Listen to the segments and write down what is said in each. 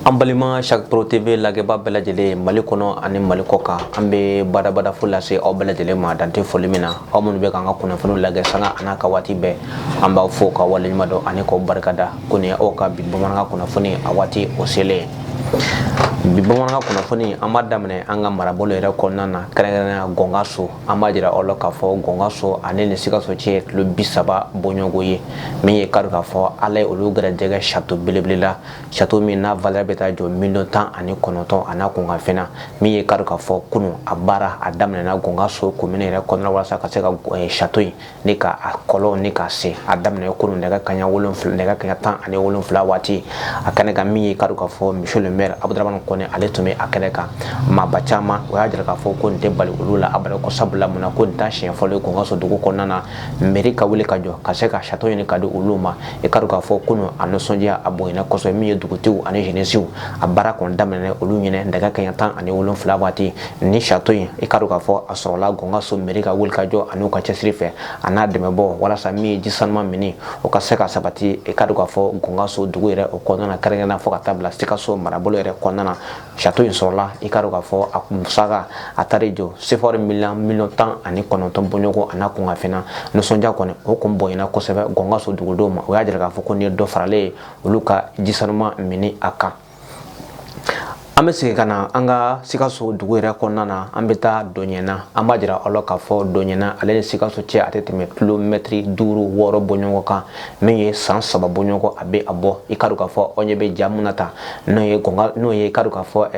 an balima chaque pro tv lagɛba bɛɛ lajɛlen mali kɔnɔ ani mali kɔkan an bɛ badabada fo lase aw bɛɛ lajɛlen ma dan tɛ foli min na aw minnu bɛ k'an ka kunnafoniw lagɛ sanga an'a ka waati bɛɛ an b'aw fo ka waleɲuman dɔn ani k'aw barikada ko nin aw ka bi bamanankan kunnafoni a waati o selen bi bamanankan kunnafoni an b'a daminɛ an ka marabolo yɛrɛ kɔnɔna na kɛrɛnkɛrɛnnenya gɔngaso an b'a jira aw la k'a fɔ gɔngaso ani ni sikaso cɛ ye kilo bi saba bɔɲɔgɔnko ye min ye k'a dɔn k'a fɔ ala ye olu gɛrɛjɛgɛ sato belebele la sato min n'a valeur bɛ taa jɔ miliyɔn tan ani kɔnɔntɔn a n'a kunkanfɛn na min ye k'a dɔn k'a fɔ kunun a baara a daminɛna gɔngaso komini yɛrɛ kɔnɔna walasa ka se ka sato in ni ka a kɔlɔn nin ka se a daminɛ kunun nɛgɛ kanɲɛ wolonfila nɛgɛ kanɲɛ tan ani wolonfila waati a kɛnɛ kan min ye k'a dɔn k'a fɔ monsieur le maire abudramani kɔnɛ ale tun bɛ a kɛnɛ kan maaba caman o y'a jira k'a fɔ ko nin tɛ bali olu la abada ko sabula mun na ko nin t'a siɲɛ fɔlɔ ye gɔngaso dugu kɔnɔna na mɛri ka wuli ka jɔ ka se ka sato ɲini ka di olu ma i k'a dɔn k'a fɔ kunun a nisɔndiya a bonyana kosɛbɛ min ye dugutigiw ani jenisiw a baara kɔni daminɛ olu ɲɛna nɛgɛ kanɲɛ tan ani wolonfila waati ni sato in i k'a dɔn k'a fɔ a sɔrɔla gɔngaso mɛri ka wuli ka jɔ an'u ka cɛsiri fɛ a n'a dɛmɛbaw walasa min ye ji sanuman minni o ka se ka sabati i k'a dɔn k'a fɔ gɔngaso dugu yɛrɛ o kɔnɔna na kɛrɛnkɛrɛnnenya fɔ ka taa bila sikaso marabolo yɛrɛ kɔnɔna na sato in sɔrɔla i k'a dɔn k'a fɔ a musaka a taara jɔ sefawari miliyɔn miliyɔn tan ani kɔnɔntɔn bɔɲɔgɔn a n'a kunkanfɛn na nisɔndiya kɔni o kun bonyana kosɛbɛ gɔngaso dugudenw ma o y'a jira k'a fɔ ko nin ye dɔ faralen ye olu ka ji sanuman minni a kan an bɛ segin ka na an ka sikaso dugu yɛrɛ kɔnɔna na an bɛ taa dɔnyɛna an b'a jira aw la k'a fɔ dɔnyɛna ale ni sikaso cɛ a tɛ tɛmɛ kilomɛtiri duuru wɔɔrɔ bɔɲɔgɔn kan min ye san saba bɔɲɔgɔn a bɛ a bɔ i k'a dɔn k'a fɔ aw ɲɛ bɛ ja min na tan n'o ye gɔnga n'o ye i k'a dɔn k'a fɔ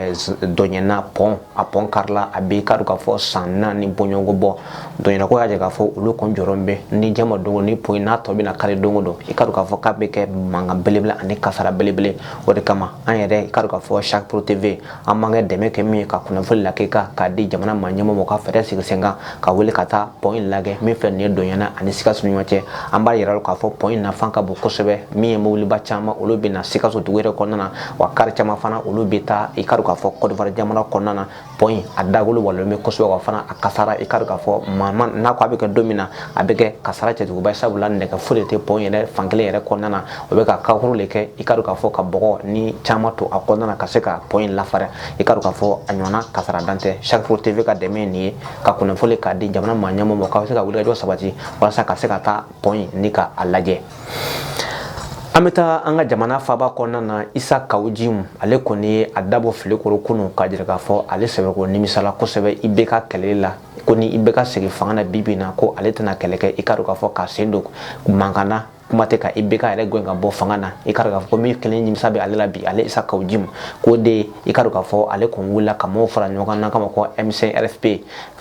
dɔnyɛna pɔn a pɔn karila a bɛ i k'a dɔn k'a fɔ san naani bɔɲɔgɔn bɔ dɔnyɛnakaw y'a jira k'a fɔ olu kɔni jɔrɔ bɛ ni jama don ni pɔn in a tɔ bɛna kari don o don i k'a dɔn k'a fɔ k'a bɛ kɛ mankan belebele ani kasara belebele o de kama an yɛrɛ i k'a dɔn k'a fɔ chaque pro tv an b'an ka dɛmɛ kɛ min ye ka kunnafoni lakika k'a di jamana maa ɲɛmɔgɔw ma ka fɛɛrɛ sigi sen kan ka wuli ka taa pɔn in lagɛ min filɛ nin ye dɔnyɛna ani sikaso ni ɲɔgɔn cɛ an b'a yira k'a fɔ pɔn in nafa ka bon kosɛbɛ min ye mobiliba caman olu bɛ na sikaso dugu yɛrɛ kɔnɔna na wa kari caman fana olu bɛ taa i k'a dɔn k'a fɔ kɔdiwari jamana kɔnɔna na pɔn a dagolo walonlen bɛ kosɛbɛ wa fana a kasara i k'a dɔn k'a fɔ maa ma n'a ko a bɛ kɛ don min na a bɛ kɛ kasara cɛjuguba sabula nɛgɛ foyi de tɛ pɔn yɛrɛ fankelen yɛrɛ kɔnɔna na o bɛ ka kakuru de kɛ i k'a dɔn k'a fɔ ka bɔgɔ ni caman to a kɔnɔna na ka se ka pɔn in lafara i k'a dɔn k'a fɔ a ɲɔgɔnna kasara dan tɛ chaque pro TV ka dɛmɛ ye nin ye ka kunnafoni k'a di jamana maa ɲɛmɔgɔw ma k'a bɛ se ka wulikajɔ sabati walasa ka se ka taa pɔn in ni ka a lajɛ an bɛ taa an ka jamana faaba kɔnɔna na isa kawujimu ale kɔni ye a dabɔ filen kɔrɔ kunu k'a jira k'a fɔ ale sɛbɛkɔrɔ nimisala kosɛbɛ IBK kɛlɛ la ko ni IBK segin fanga na bi bi in na ko ale tɛna kɛlɛ kɛ i k'a dɔn k'a fɔ k'a sen don mankan na kuma tɛ ka IBK yɛrɛ gɛn ka bɔ fanga na i k'a dɔn k'a fɔ ko min kelen nimisa bɛ ale la bi ale isa kawujimu k'o de i k'a dɔn k'a fɔ ale kun wulila ka maaw fara ɲɔgɔn kan n'an k'a ma ko m5 rfp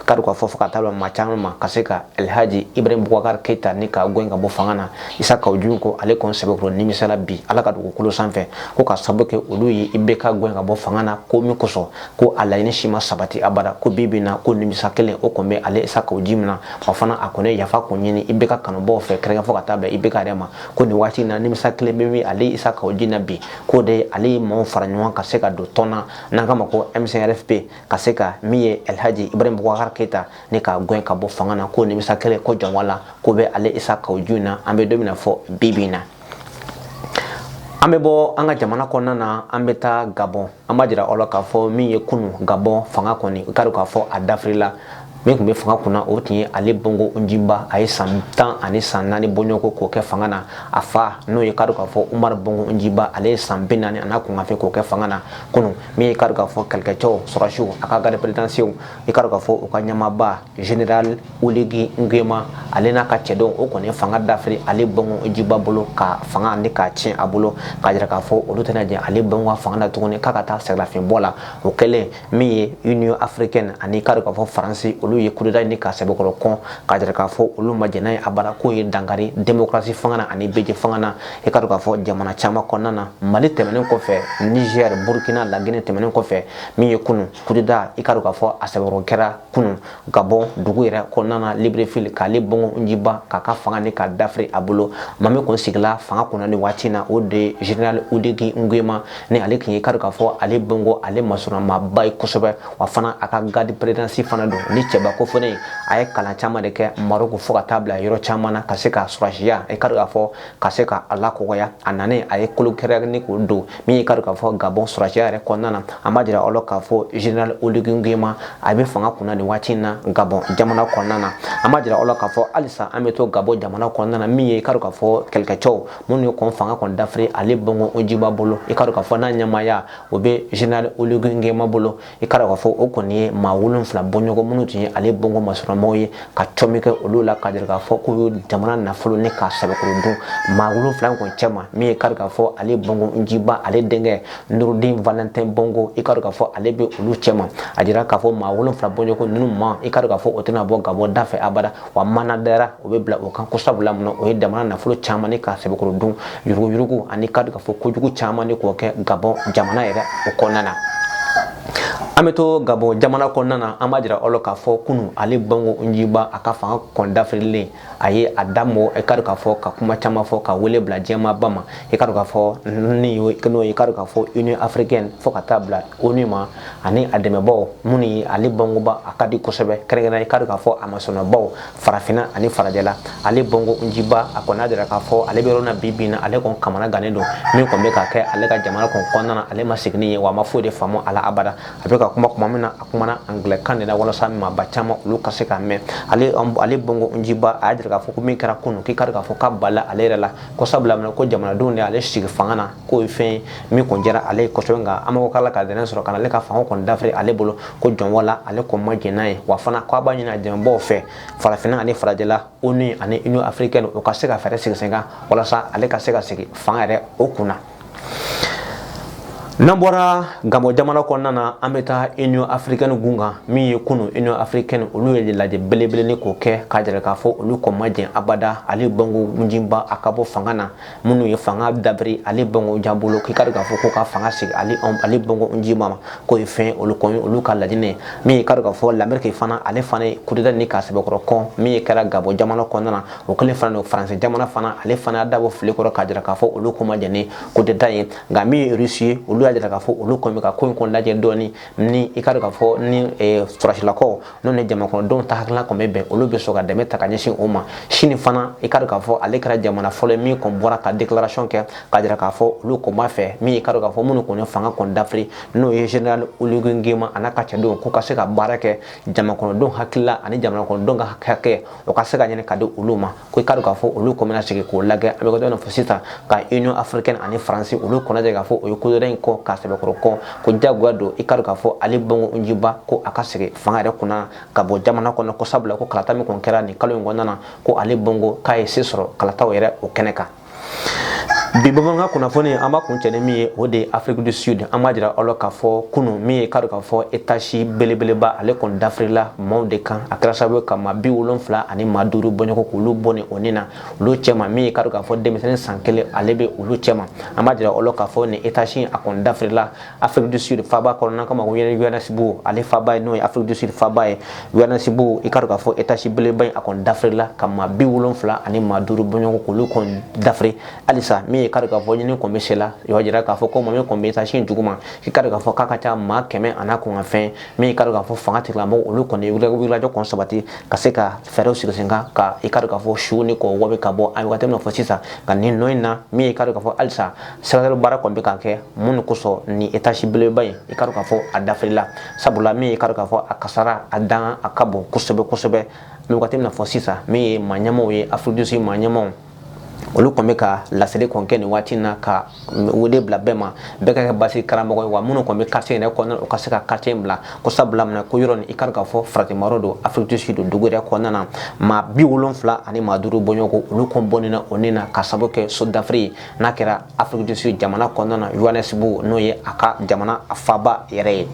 k'a dɔn k'a fɔ fo ka taa maa caman ma ka se ka alhaji ibrahim bubakar keyita ni k'a gɛn ka bɔ fanga na isa kawujimu ko ale kɔni sɛbɛkɔrɔ nimisala bi ala ka dugukolo sanfɛ ko ka sababu kɛ olu ye IBK gɛn ka bɔ fanga na ko min kosɔn ko a laɲini si ma sabati abada ko bi bi in na ko nimisa kelen o kɔni bɛ ale isa kawujimu na wa fana a kɔni ye yafa kun ɲini IBK kanubaaw fɛ kɛrɛnkɛrɛn fo ka taa bɛn IBK yɛrɛ ma ko nin waati na nimisa kelen bɛ min ale isa kawujimu na bi k'o de ale ye maaw fara ɲɔgɔn ka se ka don tɔn na n'an k'a ma ko m5 rfp ka se ka min ye alhaji ibrahim bubakar keyita ni k'a gɛn ka bɔ fanga na ko nimisa kelen ko jɔnwa la ko bɛ ale isa kawujimu na an bɛ don min na fo bi bi in na an bɛ bɔ an ka jamana kɔnɔna na an bɛ taa gabɔn an b'a jira aw la k'a fɔ min ye kunu gabɔn fanga kɔni i k'a dɔn k'a fɔ a dafirila min tun bɛ fanga kunna o tun ye ali bongo ondimba a ye san tan ani san naani bɔɲɔgɔnko k'o kɛ fanga na a fa n'o ye i k'a dɔn k'a fɔ umaru bongo ondimba ale ye san bi naani an'a kunkanfɛn k'o kɛ fanga na kunun min ye i k'a dɔn k'a fɔ kɛlɛkɛcɛw sɔrɔsiw a ka garde présidentielle i k'a dɔn k'a fɔ u ka ɲɛmaaba general oligui nguyema ale n'a ka cɛdenw o kɔni ye fanga dafiri ali bongo ondimba bolo ka fanga ni k'a tiɲɛ a bolo k'a jira k'a fɔ olu tɛna jɛn ali bongo ka fanga na tuguni k'a ka taa sɛgɛnlafiɲɛbɔ la o kɛlen min ye union africaine ani i k'a dɔn k'a fɔ faransi olu ye kudeta ni k'a sɛbɛkɔrɔ kɔn k'a jira k'a fɔ olu ma jɛn n'a ye abada k'o ye dankari demokarasi fanga na ani bɛɛjɛ fanga na i k'a dɔn k'a fɔ jamana caman kɔnɔna na mali tɛmɛnen kɔfɛ niger burkina lagine tɛmɛnen kɔfɛ min ye kunu kudeta i k'a dɔn k'a fɔ a sɛbɛkɔrɔ kɛra kunu gabɔn dugu yɛrɛ kɔnɔna na libreville k'ali bongo ondimba k'a ka fanga ni k'a dafiri a bolo maa min kun sigila fanga kunna nin waati in na o de general oligui nguema ni ale tun ye i k'a dɔn k'a fɔ ali bongo ale masurunnamaaba ye kosɛbɛ wa fana a ka garde présidentielle fana don ni cɛbaba ko fana a ye kalan caman de kɛ maroc fo ka taa bila yɔrɔ caman na ka se ka sɔrɔsiya i k'a dɔn k'a fɔ ka se ka a lakɔgɔya a nanen a ye kulu kɛrɛnkɛrɛnnen k'o don min ye i k'a dɔn k'a fɔ gabɔn sɔrɔsiya yɛrɛ kɔnɔna na an b'a jira aw la k'a fɔ general Oligui Nguema a bɛ fanga kunna nin waati in na gabɔn jamana kɔnɔna na an b'a jira aw la k'a fɔ halisa an bɛ to gabɔn jamana kɔnɔna na min ye i k'a dɔn k'a fɔ kɛlɛkɛcɛw minnu ye kɔn fanga kɔni dafiri ali bongo ondimba bolo i k'a dɔn k'a fɔ n'a ɲɛmaaya o bɛ general Oligui Nguema bolo i k'a dɔn k'a fɔ o kɔni ye maa wolonfila bɔɲɔgɔn minnu tun ye ali bongo masurunnamɔgɔw ye ka cɔmi kɛ olu la ka jira k'a fɔ k'u ye jamana nafolo ni k'a sɛbɛkɔrɔ dun maa wolonfila in kɔni cɛma min ye i k'a dɔn k'a fɔ ali bongo ondimba ale denkɛ noureddin valentin bongo i k'a dɔn k'a fɔ ale bɛ olu cɛma a jira k'a fɔ maa wolonfila bɔɲɔgɔn ninnu ma i k'a dɔn k'a fɔ u tɛna bɔ gabɔ da fɛ abada wa mana dara o bɛ bila o kan ko sabula mun o ye jamana nafolo caman ni k'a sɛbɛkɔrɔ dun yuruguyurugu ani ka k'a fɔ kojugu caman ni k'o kɛ gabɔn jamana yɛrɛ o kɔnɔna na an bɛ to gabɔn jamana kɔnɔna na an b'a jira aw la k'a fɔ kunu Ali Bongo Ondimba a ka fanga kɔn dafirilen a ye a da mɔ i ka k'a fɔ ka kuma caman fɔ ka wele bila diɲɛmaaba ma i ka k'a fɔ ni n'o i ka k'a fɔ Union africaine fo ka taa bila ONU ma ani a dɛmɛbaaw minnu ye Ali Bongo ba a ka di kosɛbɛ kɛrɛnkɛrɛnnenya i ka k'a fɔ a masɔnnabaw farafinna ani farajɛla Ali Bongo Ondimba a kɔni y'a jira k'a fɔ ale bɛ yɔrɔ na bi bi in na ale kɔni kamanagannen don min kɔni bɛ ka kɛ ale ka jamana kɔni kɔnɔna na ale ma sigi n'a ye wa a ma foyi de faamu a la abada a bɛ ka kuma tuma min na a kumana angilɛkan de la walasa maaba caman olu ka se k'a mɛn ale Ali Bongo Ondimba a y'a jira k'a fɔ ko min kɛra kunun k'i ka k'a fɔ ka bala ale yɛrɛ la ko sabula ko jamanadenw de ale sigi fanga na k'o ye fɛn ye min kɔni jɛra ale ye kosɛbɛ nka an mago k'a la ka dɛnɛn sɔrɔ ka na ale ka fanga kɔni dafiri ale bolo ko jɔn wala ale kɔni ma jɛn n'a ye wa fana k'a b'a ɲini a dɛmɛbaaw fɛ farafinna ani farajɛla ONU ani Union africaine o ka se ka fɛɛrɛ sigi sen kan walasa ale ka se ka segin fanga yɛrɛ o kun na. n'an bɔra gabɔn jamana kɔnɔna na an bɛ taa union africaine gun kan min ye kunu union africaine olu ye lajɛ belebele ni k'o kɛ k'a jira k'a fɔ olu kɔn ma jɛn abada Ali Bongo Ondimba a ka bɔ fanga na minnu ye fanga dabiri Ali Bongo Ondimba bolo k'i ka k'a fɔ k'o ka fanga segin Ali Bongo Ondimba ma k'o ye fɛn olu kɔn olu ka laɲini min ye ka k'a fɔ lameriki fana ale fana ye kudeta ni k'a sɛbɛkɔrɔ kɔn min ye kɛra gabɔn jamana kɔnɔna na o kɛlen fana don faransi jamana fana ale fana y'a dabɔ fili kɔrɔ k'a jira k'a fɔ olu kɔn ma jɛn ni kudeta ye nka min ye rusi ye olu y'a jira k'a fɔ olu kɔn bɛ ka ko in kɔn lajɛ dɔɔni ni i ka k'a fɔ ni sɔrɔdasilakaw n'o ni jamanakɔnɔdenw ta hakilina kɔn bɛ bɛn olu bɛ sɔn ka dɛmɛ ta ka ɲɛsin o ma sini fana i ka dɔn k'a fɔ ale kɛra jamana fɔlɔ ye min kɔn bɔra ka déclaration kɛ k'a jira k'a fɔ olu kɔn b'a fɛ min i ka dɔn k'a fɔ minnu kɔni ye fanga kɔn dafiri n'o ye général Oligui Nguema a n'a ka cɛdenw k'u ka se ka baara kɛ jamanakɔnɔdenw hakili la ani jamanakɔnɔdenw ka hakɛ o ka se ka ɲini ka di olu ma ko i ka k'a fɔ olu kɔn bɛna sigi k'o lagɛ a bɛ kɛ dɔ fɔ sisan nka union africaine ani faransi olu kɔn y'a jira k'a fɔ o ye kudeta in kɔn k'a sɛbɛkɔrɔ kɔn ko jagoya don i ka k'a fɔ Ali Bongo Ondimba ko a ka segin fanga yɛrɛ kunna gabɔn jamana kɔnɔ ko sabula ko kalata min kɔni kɛra nin kalo in kɔnɔna na ko Ali Bongo k'a ye se sɔrɔ kalataw yɛrɛ o kɛnɛ kan bi bɔgɔfara kan kunnafoni an b'a kuncɛ ni min ye o de ye Afrique du Sud an b'a jira aw la k'a fɔ kunu min ye i ka dɔn k'a fɔ etazi belebeleba ale kɔni dafirila maaw de kan a kɛra sababu ka maa bi wolonfila ani maa duuru bɔɲɔgɔn k'olu bɔnɛ o ni na olu cɛma min ye i ka dɔn k'a fɔ denmisɛnnin san kelen ale bɛ olu cɛma an b'a jira aw la k'a fɔ ni etazi a kɔni dafirila Afrique du Sud faba kɔnɔna k'a ma ko Johannesburg ale faba ye n'o ye Afrique du Sud faba ye Johannesburg i ka dɔn k'a fɔ etazi belebeleba in a kɔni dafirila ka maa bi wolonfila ani maa duuru bɔɲɔgɔnko olu kɔni dafiri halisa min ye ka dɔn k'a fɔ ɲini kɔni bɛ sen na o y'a jira k'a fɔ ko maa min kɔni bɛ etazi in duguma i ka dɔn k'a fɔ k'a ka ca maa kɛmɛ an'a kunkanfɛn min ye ka dɔn k'a fɔ fangatigilamɔgɔw olu kɔni wulikajɔ kɔni sabati ka se ka fɛɛrɛw sigi sen kan ka i ka dɔn k'a fɔ su nin kɔni o bɛ ka bɔ a ye waati min na fɔ sisan ka nin nɔ in na min ye ka dɔn k'a fɔ halisa sɛgɛsɛgɛli baara kɔni bɛ ka kɛ mun de kosɔn nin etazi belebeleba in i ka dɔn k'a fɔ a dafirila sabula min ye ka dɔn k'a fɔ a kasaara a dan a ka bon kosɛbɛ kosɛbɛ an bɛ wagati min na fɔ sisan min ye maa ɲɛmaaw ye Afrique du Sud maa ɲɛmaaw olu kɔni bɛ ka laseli kɔni kɛ nin waati in na ka wele bila bɛɛ ma bɛɛ ka kɛ basi karamɔgɔ ye wa minnu kɔni bɛ quartier yɛrɛ kɔnɔna u ka se ka quartier in bila ko sabula minɛ ko yɔrɔ nin i ka dɔn k'a fɔ faratimayɔrɔ don Afrique du Sud dugu yɛrɛ kɔnɔna na maa bi wolonfila ani maa duuru bɔɲɔgɔnko olu kɔni bɔnɛna u ni na k'a sababu kɛ so dafiri ye n'a kɛra Afrique du Sud jamana kɔnɔna na Johannesburg n'o ye a ka jamana a faba yɛrɛ ye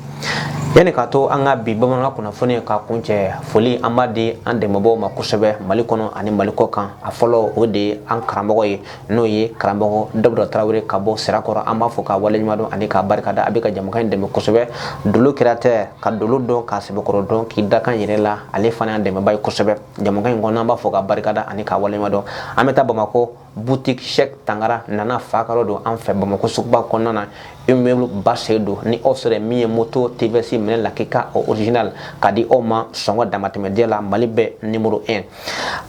yanni k'a to an ka bi bamanankan kunnafoni ka kuncɛ foli an b'a di an dɛmɛbaaw ma kosɛbɛ mali kɔnɔ ani mali kɔkan a fɔlɔ o de ye an karamɔgɔ ye n'o ye karamɔgɔ dawuda tarawele ka bɔ sirakɔrɔ an b'a fo k'a waleɲumandɔn ani k'a barikada a bɛ ka jamakan in dɛmɛ kosɛbɛ dolo kɛra tɛ ka dolo dɔn k'a sɛbɛkɔrɔ dɔn k'i dakan yɛrɛ la ale fana y'an dɛmɛba ye kosɛbɛ jamakan in kɔnɔ an b'a fo k'a barikada ani k'a waleɲumandɔn an bɛ taa bamakɔ boutique Cheikh Tangara nana fa ka yɔrɔ don an fɛ Bamakɔ suguba kɔnɔna na immeuble ba sen don ni aw sera min ye moto TVS minɛn lakika original ka di aw ma sɔngɔ damatɛmɛ diya la Mali bɛɛ numéro 1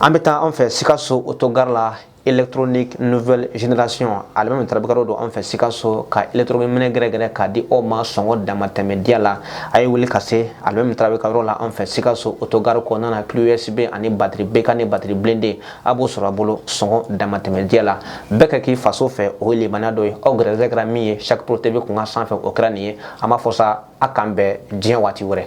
an bɛ taa an fɛ Sikaso autogare la électronique nouvelle génération alimami Tarawele ka yɔrɔ don an fɛ Sikaso ka électronique minɛn gɛrɛgɛrɛ ka di aw ma sɔngɔ damatɛmɛ diya la a ye wuli ka se alimami Tarawele ka yɔrɔ la an fɛ Sikaso autogare kɔnɔna na clé USB ani batterie BK ni batterie blindée a b'o sɔrɔ a bolo sɔngɔ damatɛmɛ diya la bɛɛ ka k'i faso fɛ o ye limaniya dɔ ye aw gɛrɛsɛgɛ kɛra min ye Cheikh pro tv kun kan sanfɛ o kɛra nin ye an b'a fɔ sa a k'an bɛn diɲɛ waati wɛrɛ